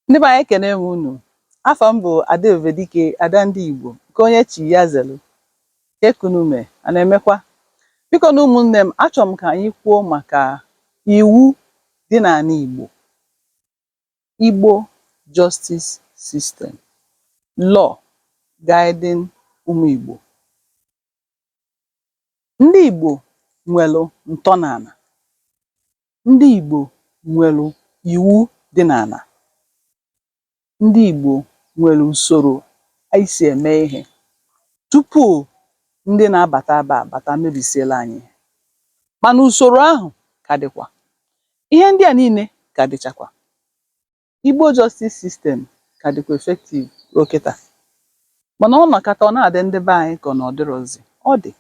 Ndị be anyị ekene m unu. Afa m bụ Ada Ebubedike, Ada ndị Igbo, nke onye chi ya zelu. Kee ka unu me, a na-emekwa? Biko nụ ụmụnne m, achọrọ m ka anyị kwuo maka iwu dị n'ana Igbo. Igbo Justice System, Law Guiding Ụmụ Igbo. Ndị Igbo nwelu ntọnana. ndị Igbo nwelu iwu dị n'ana, ndị Igbo nwere usoro anyị si eme ihe tupu ndị na-abata ebe a bata mebisielu anyị ihe. Mana usoro ahụ ka dịkwa. Ihe ndị a niile ka dịchakwa. Igbo justice system ka dịkwa effective ruo kịta. Mana ọ nọkata ọ na-adị ndị be anyị ka ọ na ọ dịrọzi. Ọ dị.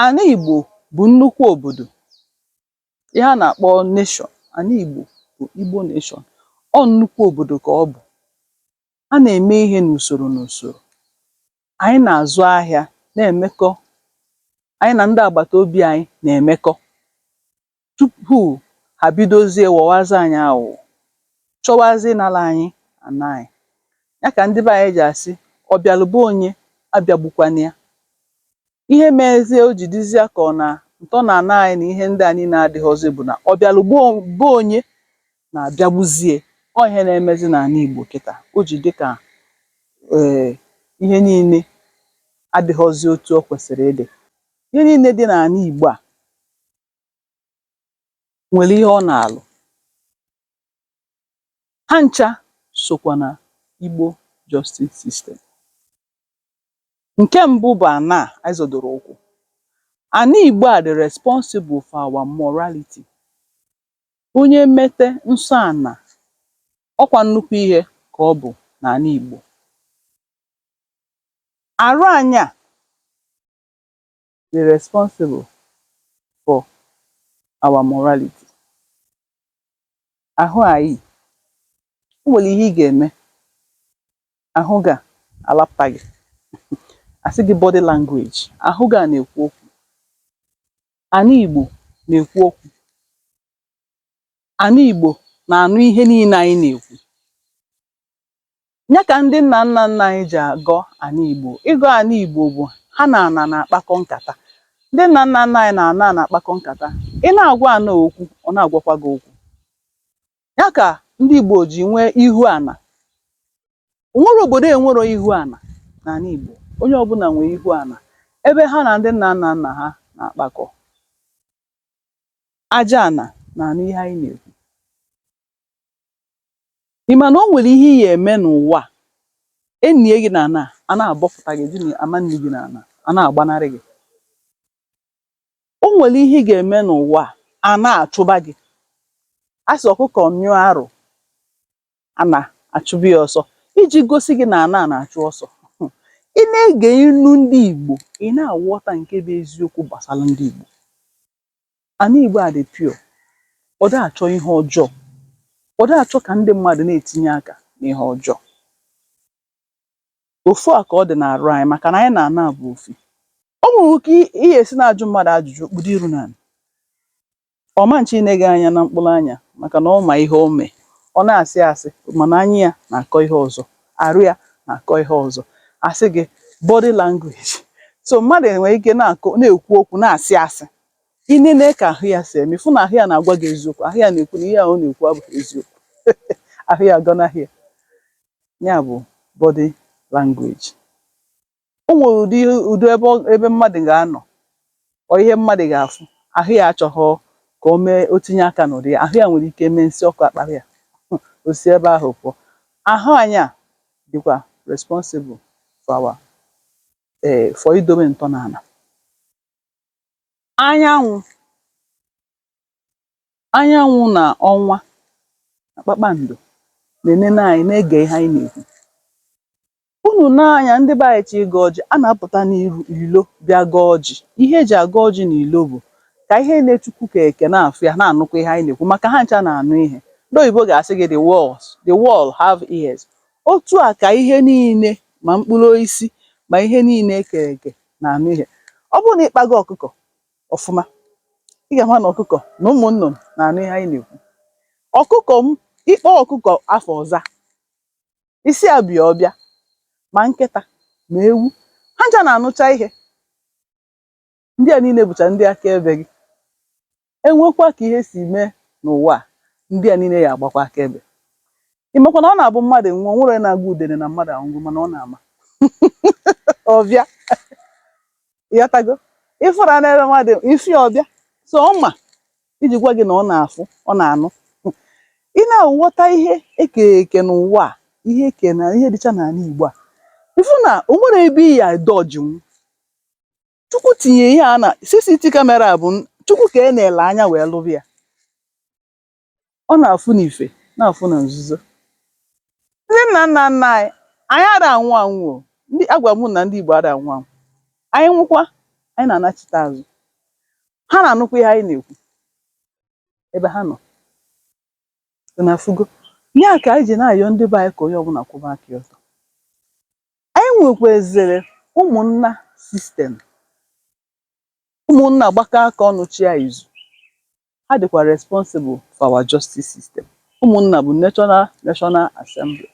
Ana Igbo bụ nnukwu obodo. Ihe a na-akpọ nation, ana Igbo bụ Igbo nation. Ọ nnukwu obodo ka ọ bụ. A na-eme ihe n'usoro n'usoro. Anyị na-azụ ahịa, na-emekọ. Anyị na ndị agbata obi anyị na-emekọ. tupu ha bidozie ghọwazi anyị aghụghọ, chọwazi ịnara anyị ana anyị. Ya ka ndị be anyị ji asị, ọ bịalụ be onye, abịagbukwana ya. Ihe mezi o ji dịzịa ka ọ na ntọnana anyị na ihe ndị a niile adịghọzị bụ na ọ bịalụ be onye na-abịagbuzie ya. Ọ ihe na-emezị n'ala Igbo kịta. O ji dị ka um ihe niile adịghọzị otu o kwesịrị ịdị. Ihe niile dị n'ala Igbo a nwere ihe ọ na-alụ. Ha ncha sokwa na Igbo justice system. Nke mbụ bụ ana a anyị zọdoro ụkwụ. Ana Igbo a dị responsible for our morality. Onye mete nsọ ana, ọ kwa nnukwu ihe ka ọ bụ n'ana Igbo. Arụ anyị a dị responsible for our morality. Ahụ anyị, o nwere ihe ị ga-eme, ahụ gị a alapụta gị. A sị gị body language, ahụ gị a na-ekwu okwu. Ana Igbo na-ekwu okwu. Ana Igbo na-anụ ihe niile anyị na-ekwu. nya kà ndị nnà nnà nnà anyị jì àgọ àna ìgbò, ịgọ àna ìgbò bụ̀ ha nà ànà nà àkpakọ nkàta, ndị nnà nnà nnà anyị nà ànà nà àkpakọ nkàta, ị na àgwa àna okwu ọ̀ na àgwakwa gị okwu, nya kà ndị ìgbò jì nwee ihu ànà, ò nwere òbòdò e nwero ihu ànà nà àna ìgbò, onye ọbụnà nwè ihu ànà ebe ha nà ndị nnà nnà nnà ha nà àkpakọ, aja ànà nà ànụ ihe anyị nà èkwu. Ị ma na o nwere ihe ị ga-eme n'ụwa a, e nie gị n'ana, ana abọpụta gị, gịnị ama nni gị n'ana, ana agbanarị gị. O nwere ihe ị ga-eme n'ụwa a, ana achụba gị. A sị ọkụkọ nyụọ arụ, ana achụba ya ọsọ. Iji gosi gị na ana na-achụ ọsọ, um ị na-ege inu ndị Igbo, ị na-aghọta nke bụ eziokwu gbasara ndị Igbo. Ana Igbo a dị pure, ọ dịghị achọ ihe ọjọọ, ọ dịghị achọ ka ndị mmadụ na-etinye aka n'ihe ọjọọ. Ofu a ka ọ dị n'arụ anyị maka na anyị na ana bụ ofu. O nwere ka ị ya-esi na-ajụ mmadụ ajụjụ, o kpudo iru n'ana, ọ ma nchọ ine gị anya na mkpụrụ anya maka na ọ ma ihe o mee, ọ na-asị asị mana anya ya na-akọ ihe ọzọ. arụ ya na-akọ ihe ọzọ a sị gị body language so mmadụ nwere ike na-akọ na-ekwu okwu na-asị asị ị nene ka ahụ ya si eme ị fụ na ahụ ya na-agwa gị eziokwu ahụ ya na-ekwu na ihe ahụ ọ na-ekwu abụghị eziokwu ahụ ya agọnahị ya ya bụ body language o nwere ụdị ihe ụdị ebe ọ ebe mmadụ ga-anọ or ihe mmadụ ga-afụ ahụ ya achọghọ ka o mee o tinye aka n'ụdị ya ahụ ya nwere ike mee nsị ọkụ akpara ya Hmm, o si ebe ahụ pụọ ahụ anyị a dịkwa responsible for our eh, for idobe ntọana anyanwụ anyanwụ na ọnwa na kpakpando na-enene anyị na-ege ihe anyị na-ekwu Unu nee anya, ndị be anyị chọọ ịgọ ọjị, a na-apụta n'ilo bịa gọọ ọjị. Ihe e ji agọ ọjị n'ilo bụ ka ihe niile Chukwu kere eke na-afụ ya, na-anụkwa ihe anyị na-ekwu maka ha ncha na-anụ ihe. Ndị oyibo ga-asị gị the wall have ears. Otu a ka ihe niile ma mkpụrụ osisi ma ihe niile e kere eke na-anụ ihe. Ọ bụrụ na ị kpago ọkụkọ ọfụma, ị ga-ama na ọkụkọ na ụmụ nnụnụ na-anụ ihe anyị na-ekwu. Ọkụkọ m, ị kpọọ ọkụkọ afa, ọ za, ị sị ya bịa ọ bịa ma nkịta ma ewu ha ncha na-anụcha ihe ndị a niile bụcha ndị akaebe gị e nwekwa ka ihe si mee n'ụwa a ndị a niile ya-agbakwa akaebe ị makwa na ọ na-abụ mmadụ nwụọ o nwere onye na-agwa udene na mmadụ anwụgo mana ọ na-ama ọ bịa ị ghọtago ị fụrụ a na-ere mmadụ isi ọ bịa so ọ ma iji gwa gị na ọ na-afụ ọ na-anụ ị na-aghọta ihe eke eke n'ụwa a ihe eke na ihe dịcha n'ana Igbo a ị fụ na o nwere ebe ị ya dọjinwu Chukwu tinye ihe a na CCTV camera a bụ n- Chukwu ka a na-ele anya wee lụrụ ya Ọ na-afụ n'ife, na-afụ na nzuzo. Ndị nna nna nna anyị, anyị ada anwụ anwụ o. Ndị agwa m na ndị Igbo ada anwụ anwụ. Anyị nwụkwa, anyị na-anachite azụ. Ha na-anụkwa ihe anyị na-ekwu ebe ha nọ. Unu afụgo? Ya ka anyị ji na-ayọ ndị be anyị ka onye ọbụla kwụba aka ya ọtọ. Anyị nwekwazịrị ụmụnna sistem. Ụmụnna gbakọọ aka ọnụ chịa izu. ha dịkwa responsible for our justice system. Ụmụnna bụ national national assembly.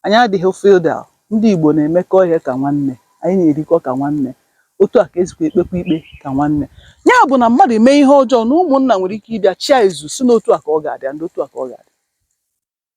Anyị adịghị feudal. Ndị Igbo na-emekọ ihe ka nwanne. Anyị na-erikọ ka nwanne. Otu a ka e sikwa ekpekwa ikpe ka nwanne. Ya bụ na mmadụ mee ihe ọjọọ na ụmụnna nwere ike ịbịa chịa izu sị na otu a ka ọ ga-adị and otu a ka ọ ga-adị.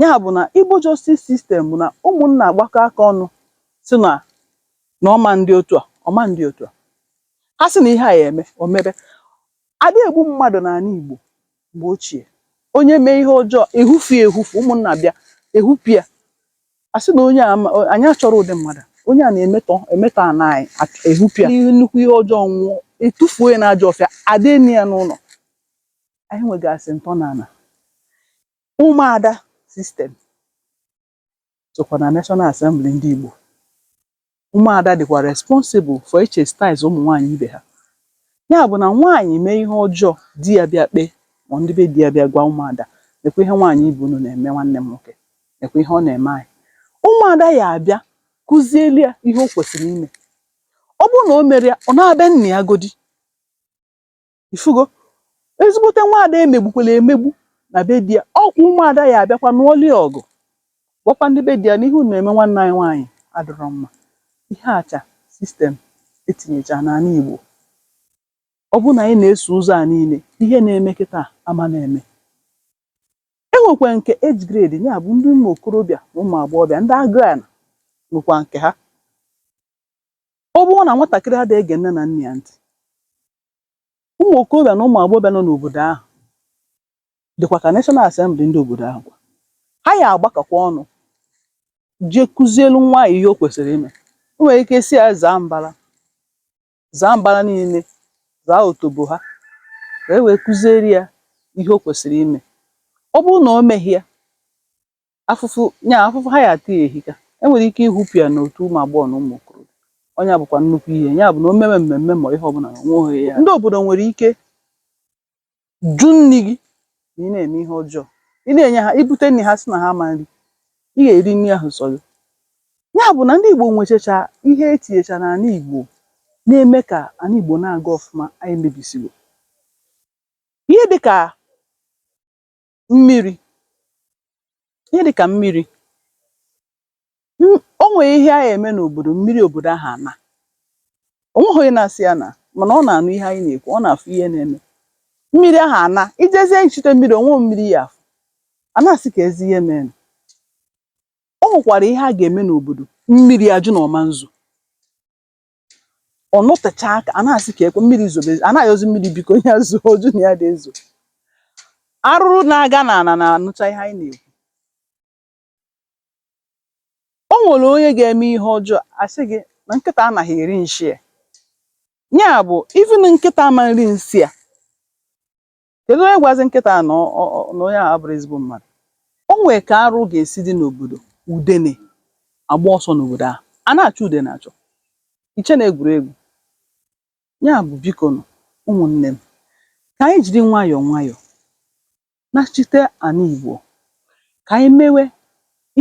ya bụ̀ nà Igbo justice system bụ̀ nà ụmụ̀nnà àgbakọ aka ọnụ sị nà nà ọ ma ndị otu à ọ̀ ma ndị otu à ha sị nà ihe à yà ème ọ̀ mebe àdị ègbu mmadụ̀ nà àna ìgbò m̀gbè ochìè onye mee ihe ọjọọ è hufù è hufù ụmụ̀nnà bịa è hupù ya à sị nà onye à ma ànyị achọrọ ụdị mmadụ a onye à nà-èmetọ èmetọ àna ànyị à è hupù ya n'ihu nnukwu ihe ọjọọ nwụọ è tufuo ya na ajọ ọfịa àda èni ya n'ụnọ̀ ànyị nwègàsị̀ ǹtọ nà ànà Ụmụada system sokwa na National Assembly ndị Igbo. Ụmụada dịkwa responsible for ịchastise ụmụ nwaanyị ibe ha. Ya bụ na nwaanyị mee ihe ọjọọ, di ya bịa kpee ma ndị be di ya bịa gwa ụmụada, nekwa ihe nwaanyị ibe unu na-eme nwanne m nwoke, nekwa ihe ọ na-eme anyị. Ụmụada ya abịa kụzieli ya ihe o kwesịrị ime. Ọ bụrụ na o merọ ya, ọ naba be nna ya godi. ifugo ezigbote nwaada e megbukwala emegbu na be di ya ọkwa ụmụada ya abịakwa nụọli ya ọgụ gwakwa ndị be di ya na ihe unu na-eme nwanne anyị nwaanyị adịrọ mma ihe acha sistem e tinyecha n'ala Igbo ọ bụrụ na anyị na-eso ụzọ a niile ihe na-eme kịta ama na-eme e nwekwa nke age grade ya bụ ndị ụmụ okorobịa na ụmụ agbọghọbịa ndị agụa na nwekwa nke ha ọ bụrụ na nwatakịrị ada ege nne na nna ya ntị Ụmụ okorobịa na ụmụ agbọghọbịa nọ n'obodo ahụ dịkwa ka National Assembly ndị obodo ahụ kwa. Ha ya agbakọkwa ọnụ jee kụzielu nwa ahụ ihe o kwesịrị ime. O nwere ike sị ya zaa mbara, zaa mbara niile, zaa otobo ha ka e wee kụziere ya ihe o kwesịrị ime. Ọ bụrụ na o meghị ya, afụfụ nya afụfụ ha ya ata ya ehika e nwere ike ịchụpụ ya n'otu ụmụ agbọghọ na ụmụ okorobịa nya bụkwa nnukwu ihe ya bụ na o mewe mmemme ma ihe ọbụla na o nweghị ya ndị obodo nwere ike jụ nri gị na ị na-eme ihe ọjọọ ị na-enye ha i bute nri ha sị na ha ama nri ị ga-eri nri ahụ sọ gị ya bụ na ndị Igbo nwechacha ihe etinyecha n'ala Igbo na-eme ka ala Igbo na-aga ọfụma anyị mebisigo ihe dịka mmiri ihe dịkà mmiri o nwèe ihe a yà-ème n'òbòdò mmiri òbòdò ahụ̀ ànà ò nwehọ̄ onye nā-asị yā nà mànà ọ nà-ànụ ihe anyị nà-èkwu ọ nà-àfụ ihe nā-eme mmiri ahụ̀ àna i jezie ichute mmiri ò nweghī mmiri ị yà àfụ à na-àsị kèezi ihe mērē nà o nwèkwàrà ihe a gà-ème n'òbòdò mmiri àjụ nà ọ̀ ma nzò ọ nọtechaa aka a na-asị ka e kwe mmiri zobe a na-ayọzi mmiri biko ya zoo ọ jụ na ya dị ezo arụrụ na-aga na ana na-anụcha ihe anyị na-ekwu o nwere onye ga-eme ihe ọjọọ a sị gị na nkịta anaghị eri nshi ya ya bụ even nkịta ama nri nsị ya Kedụ onye gwazi nkịta a na ọ- ọ- na onye ahụ abụrọ ezigbo mmadụ o nwee ka arụ ga-esi dị n'obodo udene agba ọsọ n'obodo ahụ a na-achọ udene achọ i che na egwuregwu ya bụ biko nụ ụmụnne m ka anyị jiri nwayọọ nwayọọ nachite ana Igbo ka anyị mewe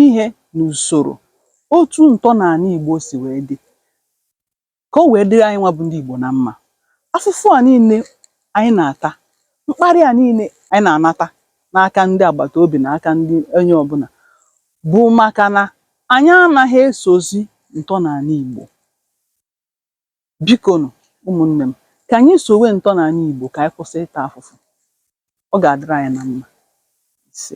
ihe n'usoro otu ntọnala Igbo si wee dị ka o wee dịrị anyị nwa bụ ndị Igbo na mma. Afụfụ a niile anyị na-ata, mkparị a niile anyị na-anata n'aka ndị agbata obi na aka ndị onye ọbụla bụ maka na anyị anaghị esozi ntọnala Igbo. Biko nụ, ụmụnne m, ka anyị sowe ntọnala Igbo ka anyị kwụsị ịta afụfụ. Ọ ga-adịrị anyị na mma. Ise.